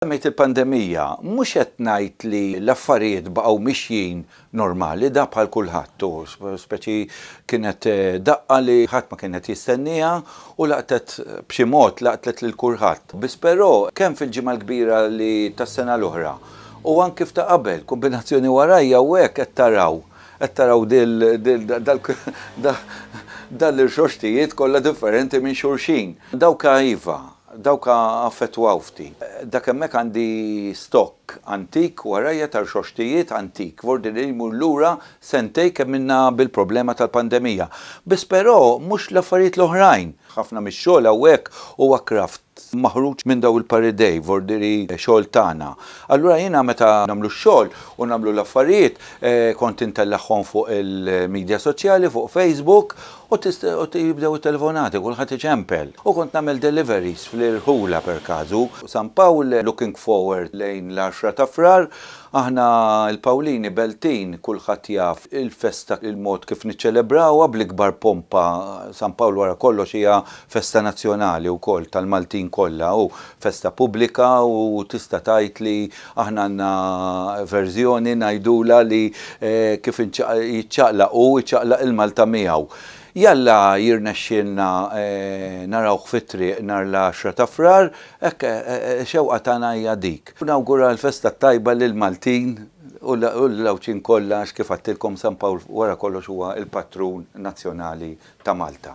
Semmejt il-pandemija, mhux qed ngħid li l-affarijiet baqgħu mixjin normali, da bħal kulħadd u speċi kienet daqqa li ħadd ma kien qed jistennieha u laqtet b'xi mod laqtlet lil kulħadd. Biss però, kemm fil-Ġimgħa l-Kbira li tas-sena l-oħra u anki f'ta' qabel, kombinazzjoni warajja hawnhekk qed taraw, qed taraw dan l-irxoxtijiet kollha differenti minn xulxin. Dawk iva, Dawk affettwaw ftit. Dak hemmhekk għandi stokk antik warajja ta' rxoxtijiet antik f'ordni li jmur lura sentejn kemm ilna bil-problema tal-pandemija. Biss però mhux l-affarijiet l-oħrajn. Ħafna mix-xogħol hawnhekk huwa kraft maħruġ minn dawn il-par idej f'ordni li xogħol tagħna. Allura jiena meta nagħmlu x-xogħol u nagħmlu l-affarijiet kont intellagħhom fuq il-midja soċjali, fuq Facebook, U jibdew it-telefonati, kulħadd iċempel. U kont nagħmel deliveries fl-irħula per casu, San Pawl, looking forward lejn l-għaxra ta' Frar. Aħna l-Pawlini Beltin kulħadd jaf il-festa il-mod kif niċċelebrawha bl-ikbar pompa, San Pawl wara kollox hija festa nazzjonali wkoll tal-Maltin kollha u festa pubblika u tista' tgħid li Aħna għandna verżjoni ngħidulha li kif jiċċaqlaq hu, iċċaqlaq il-Malta miegħu. Jalla jirnexxielna narawh fit-triq nhar l-għaxra ta' Frar, hekk xewqa tagħna hija dik. Nawgura l-festa t-tajba lill-Maltin u lill-Għawdxin kollha għax kif għedtilkom San Pawl wara kollox huwa l-patrun nazzjonali ta' Malta.